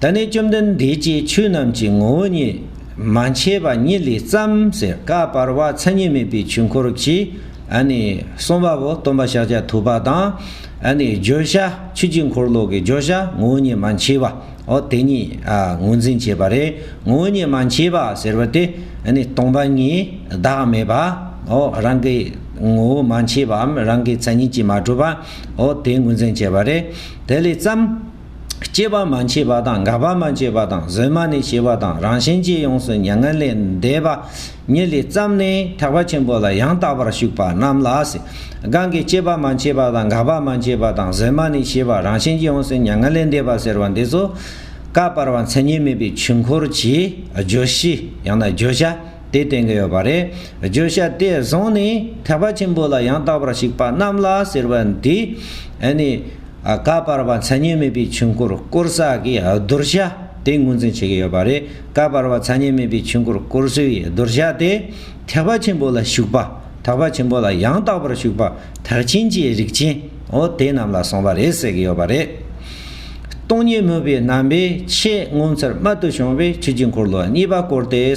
ད་ནི་བཅོམ་ལྡན་འདས་ཀྱིས་ཆོས་རྣམས་ཀྱི་ངོ་བོ་ཉིད་མ་མཆིས་པ་ཉིད་ལས་བརྩམ་ཟེར་བཀའ་བར་བ་མཚན་ཉིད་མེད་པའི་ཆོས་འཁོར་གྱིས་གསུངས་པ་པོ་སྟོན་པ་ཤཱཀྱ་ཐུབ་པ་དང། བརྗོད་བྱ་ཆོས་ཀྱི་འཁོར་ལོ་གི་བརྗོད་བྱ་ངོ་བོ་ཉིད་མ་མཆིས་པའོ་དེ་ཉིད་ངོས་འཛིན་བྱེད་པ་རེད་ངོ་བོ་ཉིད་མ་མཆིས་པ་ཟེར་བ་དེ་སྟོང་པ་ཉིད་བདག་མེད་པའོ་རང་གི་ངོ་བོ་མ་མཆིས་པའམ་རང་གི་མཚན་ཉིད་ཀྱིས་མ་གྲུབ་པའོ་དེ་ངོས་འཛིན་བྱེད་པ་རེད་དེ་ལས་བརྩམ། སྐྱེས་པ་མ་མཆིས་པ་དང་འགག་པ་མ་མཆིས་པ་དང་གཟོད་མ་ནས་ཞེས་པ་དང་རང་བཞིན་གྱིས་ཡོངས་སུ་མྱ་ངན་ལས་འདས་པ་ཉིད་ལས་བརྩམས་ནས་ཐེག་པ་ཆེན་པོ་ལ་ཡང་དག་པར་ཞུགས་པ་རྣམས་ལ་གང་གིས་སྐྱེས་པ་མ་མཆིས་པ་དང་འགག་པ་མ་མཆིས་པ་དང་གཟོད་མ་ནས་ཞེས་པ་རང་བཞིན་གྱིས་ཡོངས་སུ་མྱ་ངན་ལས་འདས་པ་ཟེར་བ་འདི་ཚོ། བཀའ་བར་བ་མཚན་ཉིད་མེད་པའི་ཆོས་འཁོར་གྱི་བརྗོད་གཞི་ཡང་ན་བརྗོད་བྱ། དེ་བསྟན་གྱི་ཡོད་པ་རེད། བརྗོད་བྱ་དེ་བཟུང་ནས་ཐེག་པ་ཆེན་པོ་ལ་ཡང་དག་པར་གཞིགས་པ་རྣམས་ལ་ཟེར་བ་འདི། ནི། ཀ་བར་བ་མཚན་ཉིད་མེད་པའི་ཆོས་འཁོར་བསྐོར་ས་ཀྱི་བསྡུར་བྱ་དེ་ངོས་འཛིན་བྱེད་ཀྱི་ཡོད་པ་རེད། ཀ་བར་བ་མཚན་ཉིད་མེད་པའི་ཆོས་འཁོར་བསྐོར་སའི་བསྡུར་བྱ་དེ། ཐེག་པ་ཆེན་པོ་ལ་ཞུགས་པ། ཐེག་པ་ཆེན་པོ་ལ་ཡང་དག་པར་ཞུགས་པ་ཐེག་ཆེན་གྱི་རིགས་ཅན། འོ་དེ་རྣམས་ལ་གསུངས་པ་རེད་ཟེར་གྱི་ཡོད་པ་རེད། སྟོང་ཉིད་མོས་པའི་རྣམ་པས་ཆེས་ངོ་མཚར་རྨད་དུ་བྱུང་བའི་ཆོས་ཀྱི་འཁོར་ལོ་གཉིས་པ་བསྐོར་ཏེ།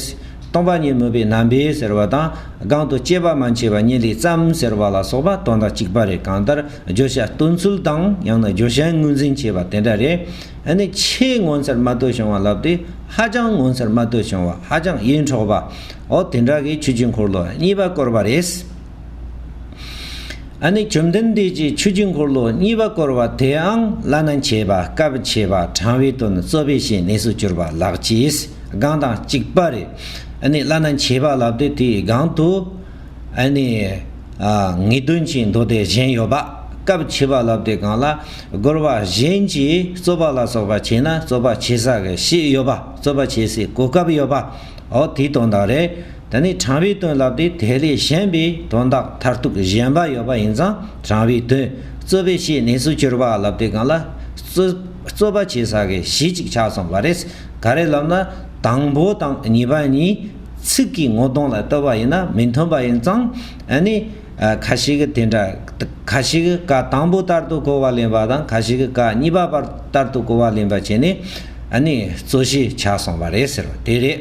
སྟོང་པ་ཉིད་མོས་པའི་རྣམ་པས་ཟེར་བ་དང་སྒང་དུ་སྐྱེས་པ་མ་མཆིས་པ་ཉིད་ལས་བརྩམས་ཟེར་བ་ལ་སོགས་པ་དོན་དང་གཅིག་པ་རེད་གང་ལྟར་བརྗོད་བྱ་སྟོན་ཚུལ་དང་ཡང་ན་བརྗོད་བྱའི་ངོས་འཛིན་བྱེད་པ་དེ་འདྲ་རེད། ནི་ཆེས་ངོ་མཚར་རྨད་དུ་བྱུང་བ་ལབ་སྟེ་ཧ་ཅང་ངོ་མཚར་རྨད་དུ་བྱུང་བ་ཧ་ཅང་ཡིད་འཕྲོག་པ་འོ་དེ་འདྲ་གི་ཆོས་ཀྱི་འཁོར་ལོ་གཉིས་པ་བསྐོར་བ་རེད། ཨ་ནི་བཅོམ་ལྡན་འདས་ཀྱིས་ཆོས་ཀྱི་འཁོར་ལོ་གཉིས་པ་བསྐོར་བ་དེའང་བླ་ན་མཆེད་པ་སྐབས་མཆེད་པ་དྲང་བའི་དོན་རྩོད་པས་ཞེས་གནས་སུ་གྱུར་པ་ལགས་ཀྱིས་སྒང་དང་གཅིག་པ་རེ་ཨ་ནི་བླ་ན་མཆེད་པ་ལབ་སྟེ་དེའི་སྒང་དུ་ཨ་ནི་ངེས་དོན་གྱི་མདོ་སྡེ་གཞན་ཡོད་པ་སྐབས་མཆེད་པ་ལབ་སྟེ་སྒང་ལ་བསྐོར་བ་གཞན་གྱིས་རྩོད་པ་ལ་སོགས་པ་བྱས་ན་རྩོད་པ་བྱེད་ས་གི་ཤེས་ཡོད་པ་རྩོད་པ་བྱེད་སའི་གོ་སྐབས་ཡོད་པའོ་དེའི་དོན་དང་རེ། ད་ནི་དྲང་བའི་དོན་ལབ་སྟེ་དེ་ལས་གཞན་པའི་དོན་དག་མཐར་ཐུག་གཞན་པ་ཡོད་པ་ཡིན་ཙང་དྲང་བའི་དོན་རྩོད་པའི་བྱེད་གནས་སུ་གྱུར་པ་ལབ་སྟེ་གང་ལ་རྩོད་པ་བྱེད་ས་གི་གཞི་གཅིག་ཆ་ཚང་བ་རེད། ག་རེ་ལབ་ན་དང་པོ་དང་གཉིས་པ་གཉིས་ཚིག་གི་ངོ་གདོང་ལ་ལྟོས་པ་ཡིན་ན་མི་མཐུན་པ་ཡིན་ཙང་ནི། ཁ་ཞིག་དེ་འདྲ་ཁ་ཞིག་ཀ་དང་པོ་ལྟར་དུ་གོ་བ་ལེན་པ་དང་ཁ་ཞིག་ཀ་གཉིས་པ་ལྟར་དུ་གོ་བ་ལེན་པ་བྱས་ནས་ནི་རྩོད་གཞི་ཆ་ཚང་བ་རེད་ཟེར་བ་དེ་རེད།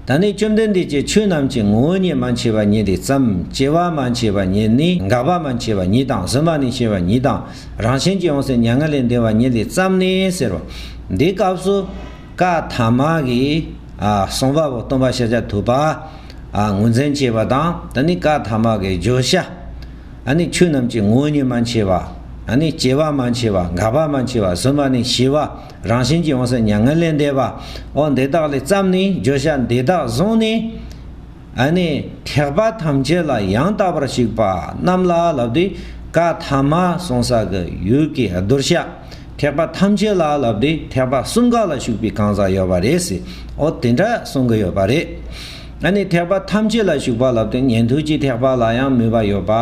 ད་ནི་བཅོམ་ལྡན་འདས་ཀྱིས་ཆོས་རྣམས་ཀྱི་ངོ་བོ་ཉིད་མ་མཆིས་པ་ཉིད་དེ་ཙམ་སྐྱེ་བ་མ་མཆིས་པ་ཉིད་ནི་འགག་པ་མ་མཆིས་པ་ཉིད་དང་གཟོད་མ་ནས་ཤེས་པ་ཉིད་དང་རང་བཞིན་གྱིས་ཡོངས་སུ་མྱ་ངན་ལས་འདས་པ་ཉིད་དེ་ཙམ་ནི་ཟེར་རོ། འདིའི་སྐབས་སུ། ཀ་དྷ་མ་གིས། གསུངས་པ་པོ་སྟོང་པ་ཤཱཀྱ་ཐུབ་པ། ངོས་འཛིན་བྱས་པ་དང་ད་ནི་ཀ་དྷ་མ་གིས་བརྗོད་བྱ། ཨ་ནི་ཆོས་རྣམས་ཀྱི་ངོ་བོ་ཉིད་མ་མཆིས་པ། ཨ་ནི་སྐྱེ་བ་མ་མཆིས་པ་འགག་པ་མ་མཆིས་པ་གཟོད་མ་ནས་ཤེས་པ། རང་བཞིན་གྱིས་འོང་སོགས་མྱ་ངན་ལས་འདས་པ། འོ་འདི་དག་ལས་བརྩམས་ནས་བརྗོད་བྱ་འདི་དག་བཟུང་ནས། ཨ་ནི་ཐེག་པ་ཐམས་ཅད་ལ་ཡང་དག་པར་གཞིག་པ་རྣམས་ལ་ལབ་སྟེ། ཀ་དྷ་མ་གསུང་ས་ཀྱི་ཡུལ་གྱི་གདུལ་བྱ་ཐེག་པ་ཐམས་ཅད་ལ་ལབ་སྟེ་ཐེག་པ་གསུམ་ག་ལ་ཞུགས་པའི་གང་ཟག་ཡོད་པ་རེད་ཟེར་འོ་དེ་འདྲ་གསུང་གི་ཡོད་པ་རེད། ཨ་ནི་ཐེག་པ་ཐམས་ཅད་ལ་ཞུགས་པ་ལབ་སྟེ་ཉན་ཐོས་ཀྱི་ཐེག་པ་ལ་ཡང་མོས་པ་ཡོད་པ།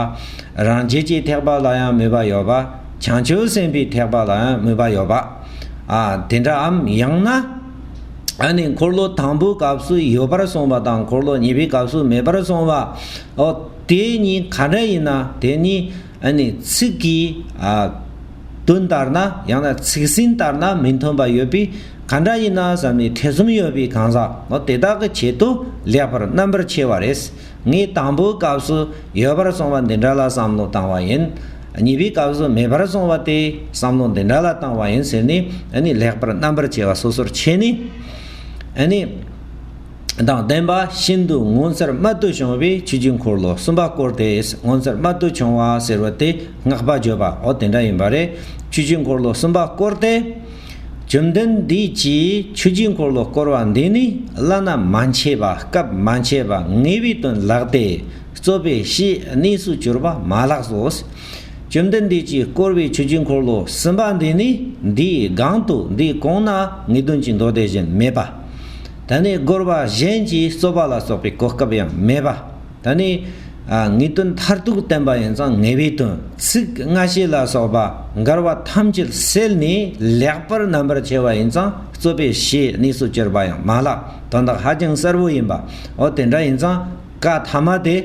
རང་རྒྱལ་གྱི་ཐེག་པ་ལ་ཡང་མོས་པ་ཡོད་པ། བྱང་ཆུབ་སེམས་དཔའི་ཐེག་པ་ལ་ཡང་མོས་པ་ཡོད་པ་དེ་འདྲ་འམ་ཡང་ན་ཨ་ནི་འཁོར་ལོ་དང་པོའི་སྐབས་སུ་ཡོད་པར་སོང་བ་དང་འཁོར་ལོ་གཉིས་པའི་སྐབས་སུ་མེད་པར་སོང་བ་འོ་དེ་གཉིས་ག་འདྲ་ཡིན་ན་དེ་གཉིས་ཨ་ནི་ཚིག་གི་དོན་ལྟར་ན་ཡང་ན་ཚིག་ཟིན་ལྟར་ན་མི་མཐུན་པ་ཡོད་པས་ག་འདྲ་ཡིན་ན་བསམ་ནས་ཐེ་ཚོམ་ཡོད་པའི་གང་ཟག་འོ་དེ་དག་གི་ཆེད་དུ་ལེགས་པར་རྣམ་པར་ཕྱེ་བ་རེས་ངས་དང་པོའི་སྐབས་སུ་ཡོད་པར་སོང་བ་འདི་འདྲ་ལ་བསམ་བློ་བཏང་བ་ཡིན་གཉིས་པའི་སྐབས་སུ་མེད་པར་སོང་བ་སྟེ་བསམ་བློ་འདི་འདྲ་ལ་བཏང་བ་ཡིན་ཟེར་ནས་ལེགས་པར་རྣམ་པར་ཕྱེ་བ་སོ་སོར་ཕྱེ་ནས་དང་ལྡན་པ་ཤིན་ཏུ་ངོ་མཚར་རྨད་དུ་བྱུང་བའི་ཆོས་ཀྱི་འཁོར་ལོ་གསུམ་པ་བསྐོར་ཏེ་ངོ་མཚར་རྨད་དུ་བྱུང་བ་ཟེར་བ་སྟེ་བསྔགས་པ་བརྗོད་པའོ་དེ་འདྲ་ཡིན་པ་རེད་ཆོས་ཀྱི་འཁོར་ལོ་གསུམ་པ་བསྐོར་ཏེ། བཅོམ་ལྡན་འདས་ཀྱིས་ཆོས་ཀྱི་འཁོར་ལོ་བསྐོར་བ་འདི་ནི་བླ་ན་མ་མཆིས་པ་སྐབས་མ་མཆིས་པ་ངེས་པའི་དོན་ལགས་ཏེ། རྩོད་པའི་གཞི་གནས་སུ་གྱུར་པ་མ་ལགས་སོ། བཅོམ་ལྡན་འདས་ཀྱིས་བསྐོར་བའི་ཆུ་རྒྱུན་འཁོར་ལོ་གསུམ་པ་འདི་ནི་འདིའི་སྒང་དུ་འདི་གོང་ན་ངེས་དོན་གྱི་མདོ་སྡེ་བཞིན་མེད་པ། ད་ནི་བསྐོར་བ་གཞན་གྱིས་རྩོད་པ་ལ་སོགས་པའི་གོ་སྐབས་ཡང་མེད་པ། ད་ནི། ངེས་དོན་མཐར་ཐུག་བསྟན་པ་ཡིན་ཙང་ངེས་པའི་དོན་ཚིག་སྔ་ཕྱི་ལ་སོགས་པ་འགལ་བ་ཐམས་ཅད་སེལ་ནས་ལེགས་པར་རྣམ་པར་ཕྱེ་བ་ཡིན་ཙང་རྩོད་པའི་གཞི་གནས་སུ་གྱུར་པ་ཡང་མ་ལགས་དོན་དག་ཧ་ཅང་གསལ་བོ་ཡིན་པའོ་དེ་འདྲ་ཡིན་ཙང། བཀའ་ཐ་མ་དེ་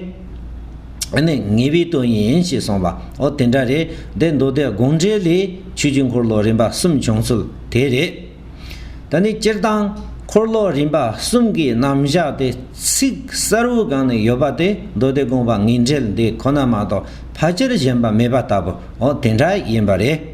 ནི་ངེས་པའི་དོན་ཡིན་ཞེས་གསུངས་པ་འོ་དེ་འདྲ་རེད་དེ་མདོ་སྡེ་དགོངས་འགྲེལ་ལས་ཆོས་རྒྱུད་འཁོར་ལོ་རིམ་པ་གསུམ་བྱུང་ཚུལ་དེ་རེད། ད་ནི་སྤྱིར་བཏང་འཁོར་ལོ་རིམ་པ་གསུམ་གྱི་རྣམ་བཞག་དེ་ཚིག་གསར་བུ་གང་ནས་ཡོད་པ་དེ་མདོ་སྡེ་དགོངས་པ་ངེས་འགྲེལ་འདི་ཁོ་ན་མ་གཏོགས་ཕལ་ཆེར་གཞན་པ་མེད་པ་ལྟ་བུ་འོ་དེ་འདྲ་ཡིན་པ་རེད།